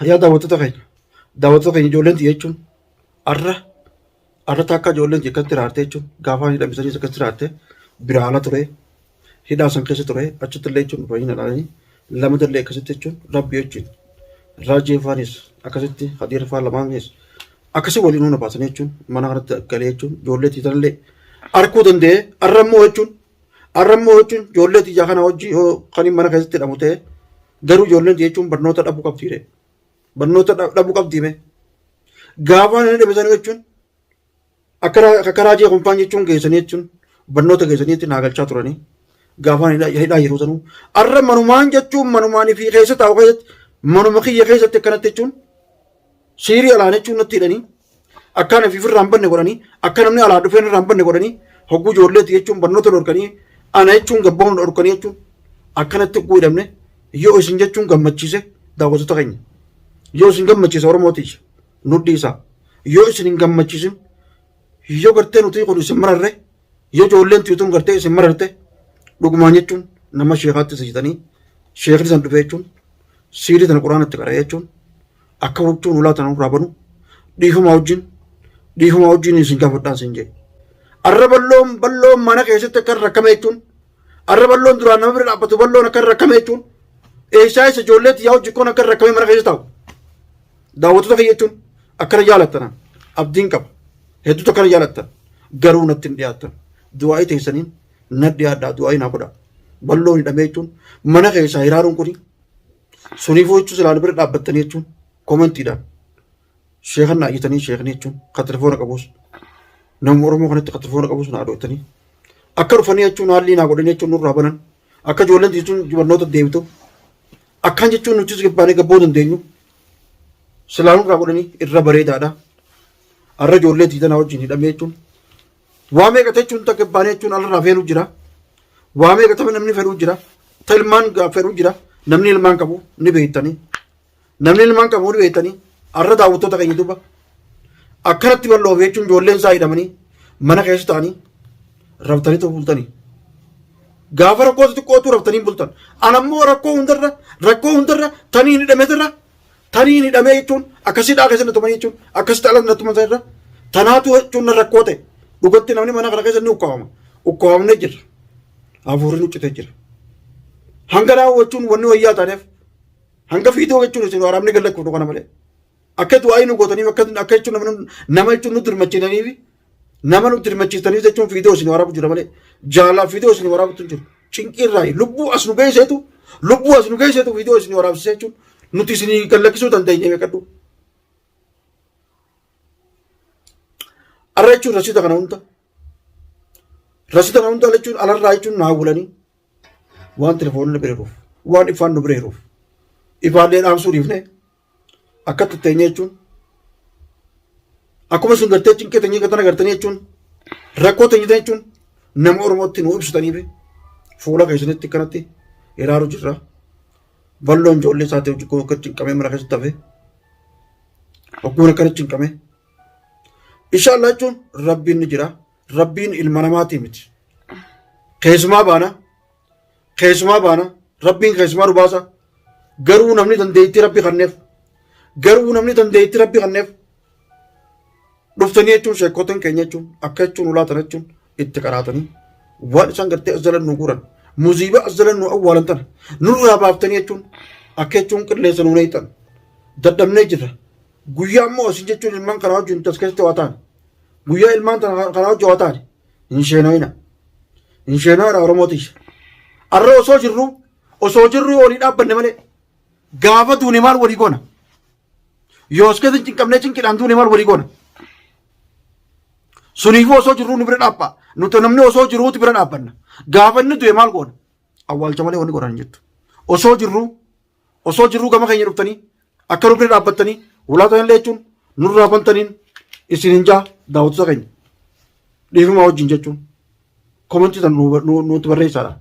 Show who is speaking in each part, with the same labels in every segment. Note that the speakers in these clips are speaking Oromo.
Speaker 1: Yaa daawwattoota keenya daawwattoota keenya ijoolleen xiyya jechuun arra arra takka ijoolleen xiyya akkatti raarte jechuun gaafa hidhamisaniis akkatti raarte biraa ala ture hidhaa san keessa ture achitti illee jechuun baay'ina dhaanii lama dallee akkasitti jechuun rabbi jechuun raajii faanis akkasitti hadiira faan lamaanis akkasii waliin hunda baasanii jechuun mana kanatti galee jechuun ijoollee xiyya illee arkuu danda'ee arra immoo jechuun arra immoo jechuun ijoollee xiyya kana hojii yoo kan mana keessatti hidhamu ta'e Garuu ijoolleen jechuun barnoota dhabuu qabdi jedhe. Barnoota dha- dhabuu qabdi mee. Gaafa inni dhibisan jechuun akka ra- akka raajii kumpaan jechuun geessanii jechuun barnoota geessanii jechuun naagalchaa turanii. Gaafa inni hidhaa- hidhaa yeroo sanuu. Arra manumaan jechuun manumaan fi keessa taa'u keessatti manuma kiyya keessatti akkanatti jechuun Siirii alaa jechuun natti hidhanii akkaan ofiif irraa hin banne godhanii akka namni alaa dhufeen irraa hin banne godhanii hogguu ijoolleetti jechuun barnoota dhorkanii ana jechuun gabbaa'uun dhorkanii jechuun akkanatti hogguu hidhamne yoo isin jechuun gammachiise daawwattoota keenya. Yoo isin gammachiise Oromootiif nu dhiisaa. Yoo isin hin gammachiisin yoo gartee nuti kun isin mararre Yoo ijoolleen tuyutuun gartee isin mararte dhugumaan jechuun nama sheekaatti sijitanii sheekni san dhufee jechuun siirii tana quraana itti qara'ee jechuun akka huccuun ulaa tana irraa banu dhiifamaa wajjin dhiifamaa wajjin isin gaafadhaan isin jedhe. Arra balloon balloon mana keessatti akka rakkame jechuun arra balloon duraan nama bira dhaabbatu balloon akka rakkame jechuun eessaa isa ijoolleetti yaa hojjikkoon akka rakkame mana keessa taa'u. daawwattoota kiyya jechuun akkana jaalattan abdiin qaba hedduutu akkana jaalattan garuu natti hin dhiyaattan du'aa'ii teessaniin na dhiyaadhaa du'aa'ii naa godhaa balloon hidhamee jechuun mana keessaa hiraaruun kuni suniifuu jechuun silaan bira dhaabbattanii jechuun koomentiidhaan sheekan naa iyyatanii sheekni jechuun kan telefoona qabus nama oromoo kanatti kan telefoona qabus naa dhootanii akka dhufanii jechuun haalli naa godhanii jechuun nurraa banan akka ijoolleen jechuun barnoota deebitu akkaan jechuun nutis gabbaanee gabboo dandeenyu silaa nurraa godhanii irra bareedaadha. Har'a ijoollee tiitanaa wajjin hidhamee jechuun waa meeqa jechuun takka baanee jechuun alirraa feeluu jira. Waa meeqa taphee namni fedhuu jira. Ta ilmaan fedhuu jira. Namni ilmaan qabu ni beektanii. Namni ilmaan qabu ni beektanii. Har'a daawwattoota keenya duuba akkanatti bal'oof jechuun ijoolleen isaa hidhamanii mana keessa ta'anii rabtanii ta'uu bultanii. Gaafa rakkoo xixiqqootu rabtanii bultan. Anammoo rakkoo hundarra rakkoo hundarra tanii hidhameetirra tanii hidhamee jechuun akkasii dhaa keessa natumanii jechuun akkasii dhaa keessa natuman irra tanaatu jechuun rakkoo ta'e dhugatti namni mana kana keessa ni ukkaawama. Ukkaawamnee jirra. Hafuurri nu citee jira. Hanga daawwachuun wanni wayyaa taaneef hanga fiidoo jechuun isin waraabni gallachuuf kana malee. Akka du'aayii nu gootaniif akka akka jechuun nama nu- nama jechuun nu dirmachiisaniif nama nu dirmachiisaniif jechuun fiidoo isin waraabu jira malee jaalala fiidoo isin waraabutu hin jiru. Cinqii irraa lubbuu as nu geesseetu lubbuu as nu geesseetu fiidoo isin waraabsisee jechuun nuti isin gallakkisuu dandeenya beekadhu. Arra jechuun rasiita kana hunda rasiita kana hunda jechuun alarraa jechuun naa wulanii waan telefoonni bira jiruuf waan ifaan nu bira jiruuf ifaallee dhaamsuu dhiifnee akkatti teenye jechuun akkuma isin gartee cinqee teenye gatan agartanii jechuun rakkoo teenye ta'e jechuun nama Oromootti nuu ibsitanii fi fuula keessanitti kanatti iraaru jirra. Balloon ijoollee isaatiif jikkoo akka cinqamee mana keessatti hafe ogguun akkana cinqame. Inshaallah jechuun rabbiin ni jira. Rabbiin ilma namaatii miti. Keessumaa baana Keessumaa baana. Rabbiin keessumaa nu baasa. Garuu namni dandeettii rabbi kanneef. Garuu namni dandeettii rabbi kanneef. Dhuftanii jechuun sheekkotan keenya jechuun akka jechuun ulaatan jechuun itti qaraatanii waan isaan gartee as jalan nu guuran muziibaa as jalan nu awwaalan tana nurraa baaftanii jechuun akka jechuun qilleessa nu neeyxan dadhabnee jirra. Guyyaa immoo isin jechuun ilmaan kanaa wajjin tas keessatti waa taane. Guyyaa ilmaan tana kanaa wajjin waa taane. hin sheenoyina hin sheenoyina oromoo tiyya arra osoo jirru osoo jirru yoo walii dhaabbanne malee gaafa duune maal walii goona yoo as keessa cinqamnee cinqidhaan duune maal walii goona suniifuu osoo jirru nu bira dhaabba nuti namni osoo jirruuti bira dhaabbanna gaafa inni du'e maal goona awwaalcha malee wanni godhan hin jirtu osoo jirru Osoo jirruu gama keenya dhuftanii akka nu bira dhaabbattanii ulaa kana illee jechuun nurraa bantaniin isin hin jaa daawwattoota keenya dhiifamaa wajjin jechuun komantii tan nu- nu- nutti barreessaadha.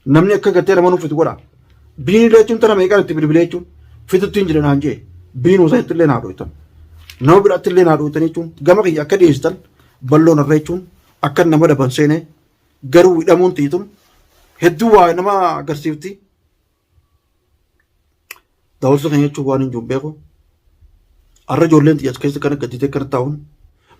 Speaker 1: Namni akka gattee nama nuuf godha. Biin illee jechuun tana meeqaan itti bilbilee jechuun fitutti hin jiran haan jee biin osoo itti illee naa dhooytan. Nama biraatti illee naa dhooytan jechuun gama kiyya akka dhiyeessitan balloon irra jechuun akka nama daban seenee garuu hidhamuun tiitun hedduu waa nama agarsiifti. Daawwattoota keenya jechuun waan hin jiru beeku. Har'a ijoolleen xiyyaas keessa kana gadditee kana taa'uun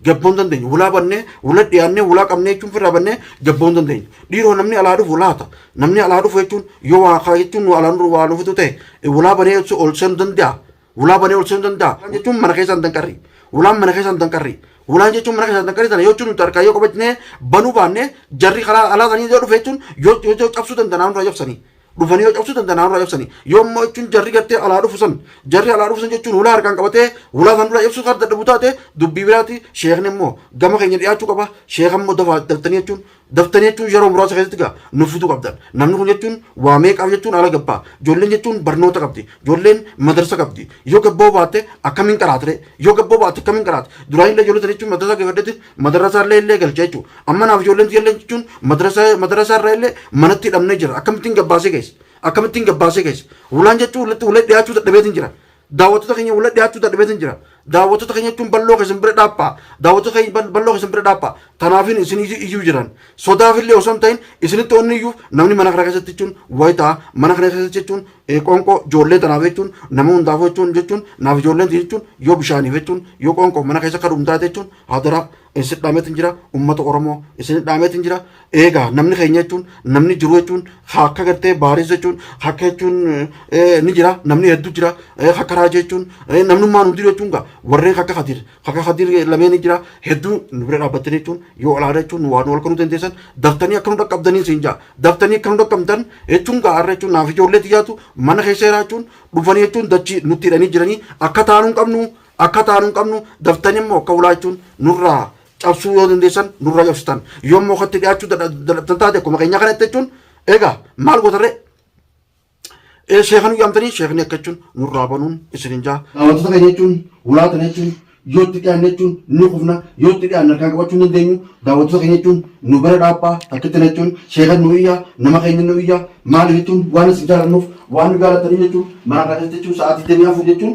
Speaker 1: gabboo hin dandeenyu. Hulaa bannee, hula dhiyaannee, hulaa qabnee jechuun firraa bannee gabboo hin dandeenyu. Dhiiroo namni alaa dhufu laata. Namni alaa dhufu jechuun yoo waa kaa jechuun nu alaan waa nu fitu ta'e hulaa banee ol seenu danda'a. Hulaa banee ol seenu danda'a. Hulaan jechuun mana keessaan danqarri. Hulaan mana keessaan danqarri. Hulaan jechuun mana keessaan danqarri sana yoo jechuun nuti harkaa yoo qabachnee banuu baannee jarri karaa alaa sanii yoo dhufe jechuun yoo yoo cabsuu danda'an nurraa cabsanii. dhufanii yoo cabsuu danda'an haa nurraa cabsanii yoo immoo jechuun jarri gartee alaa dhufu san jarri alaa dhufu san jechuun hulaa harkaan qabatee hulaa san duraa cabsuu kan dadhabu taate dubbii biraati sheekni immoo gama keenya dhiyaachuu qaba sheeka immoo dafaa daftanii jechuun daftanii jechuun yeroo muraasa keessatti gaa nuuf fiduu qabdan namni kun jechuun waa meeqaaf jechuun ala gabbaa ijoolleen jechuun barnoota qabdi ijoolleen madarsa qabdi yoo gabboo baatte akkamiin qaraatire yoo gabboo baatte akkamiin qaraate duraan illee ijoollee sana jechuun madarsa geeffadhetti Madarasa illee illee galcha jechuudha. Amma naaf ijoolleen tiyya illee jechuun madarasa madarasa irraa illee manatti hidhamnee jira. Akkamittiin gabbaasee keessa? Akkamittiin gabbaasee keessa? Wulaan jechuun walitti walitti dhiyaachuu dadhabeetiin jira. Daawwattoota keenya walitti dhiyaachuu dadhabeetiin jira. Daawwattoota keenya jechuun balloo keessan bira dhaabbaa. Daawwattoota keenya bal- balloo keessan bira dhaabbaa. Tanaafin isin iyyu- iyyuu jiran. Sodaaf illee osoo hin ta'in isinitti onni iyyuuf namni mana kana keessatti jechuun wayitaa mana kana keessatti jechuun Ee qoonqoo ijoollee tanaaf jechuun nama hundaaf jechuun jechuun naaf ijoolleen tiyya jechuun yoo bishaaniif jechuun yoo qoonqoo mana keessa akka dhumtaate jechuun hadaraa isin dhaameetiin jira uummata Oromoo isin dhaameetiin jira eegaa namni keenya jechuun namni jiru jechuun haa akka gartee baaris jechuun haa akka jechuun eh, ni jira namni hedduu jira eh, haa akka raajii jechuun eh, namnummaan hundi jechuun gaa warreen akka kadiir Haga Kadir lameeni jira hedduu nu bira dhaabbattanii jechuun yoo olaana jechuun nu waa nu halkanuu dandeessan daftanii akka nu dhaqqabdanii siin jaa daftanii akka nu dhaqqabdan jechuun gaa har'a jechuun naaf ijoollee tiyyaatu mana keessa jira jechuun dhufanii jechuun dachii nutti hidhanii jiranii akka taanuu hin qabnu akka taanuu hin qabnu daftanii immoo akka ulaa jechuun nurraa cabsuu yoo dandeessan nurraa cabsitan yoo immoo akkatti dhiyaachuu dadhabdan taate akkuma keenyaa kanatti jechuun egaa maal gootarree Ee sheeka nu yaamtanii sheekni akka jechuun nurraa banuun isinin jaa. Wantoota keenya jechuun hulaa tana jechuun yoo itti dhiyaanne jechuun ni kufna yoo itti dhiyaanne harkaan qabachuu hin dandeenyu daawwattoota keenya jechuun nu bira dhaabaa takkitti na jechuun sheekan nu iyyaa nama keenya nu iyyaa maaliif jechuun waan isin jaalannuuf waan nu jaalatanii jechuun mana kana keessa jechuun sa'aatii digdamii afur jechuun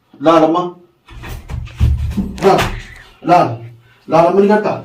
Speaker 1: Laal amma. Laal. Laal. Laal amma ni gartaa.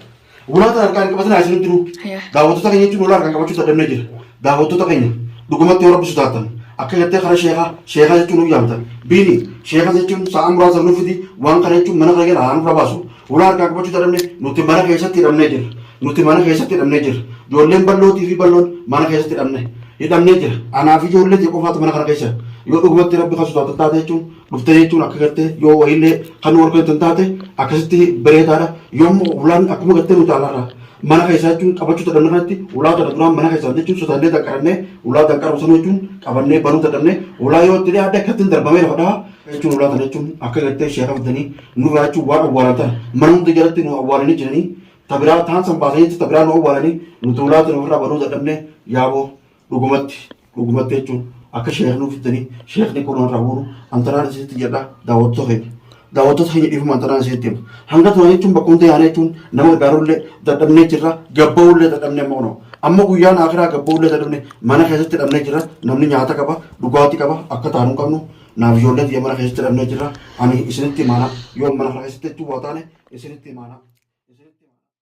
Speaker 1: Ulaa kana harkaan qabatin haa isinitti jiru. Yaa. Daawwattoota keenya jechuun ulaa harkaan qabachuu dadhabnee jira. Daawwattoota keenya dhugumatti yoo rabbisu taatan akka jettee karaa sheekaa sheekaa jechuun nu yaamtan. Biini sheekaa jechuun sa'a muraasa nu fidi waan kana jechuun mana kana gara haa nurra baasu. Fuula harkaa qabachuu dadhabne nuti mana keessatti hidhamnee jirra. Nuti mana keessatti hidhamnee jirra. Ijoolleen ballootii fi balloon mana keessatti hidhamne. Hidhamnee jira. Anaa fi ijoollee ta'e qofaatu mana kana keessa. Yoo dhugumatti rabbi kan sodaatan taate jechuun dhuftee jechuun akka gartee yoo wayiillee kan warra keessan taate akkasitti bareedaadha. Yommuu ulaan akkuma gartee nuti alaarraa mana keessaa jechuun qabachuu dadhabne kanatti ulaa kana duraan mana keessaa jechuun sodaannee danqarannee ulaa danqaru sana jechuun qabannee banuu dadhabne ulaa yoo itti dhiyaadde akkatti hin darbamee lafa dhahaa jechuun ulaa kana jechuun akka gartee ishee qabdanii nurraa jechuun waan awwaalan tana mana hunda jalatti nu awwaalanii jiranii tabiraa taan san baasanii tabiraa nu awwaalanii nu tuulaa tana ofirraa banuu dadhabnee yaaboo dhugumatti dhugumatti jechuun akka sheekni uffitanii sheekni kun irraa buunu antanaan isinitti jedha daawwattoota keenya daawwattoota keenya dhiifuma antanaan isinitti hima hanga turan jechuun bakka hunda yaanee jechuun nama gargaarullee dadhabnee jirra gabba'ullee dadhabnee amma kunoo amma guyyaan akiraa gabba'ullee dadhabnee mana keessatti dhabnee jirra namni nyaata qaba dhugaatii qaba akka taanu hin qabnu Naaf ijoollee tiyya mana keessatti hidhamnee jirra. Ani isinitti imaana. Yoo mana kana keessatti jechuun waa taane isinitti imaana.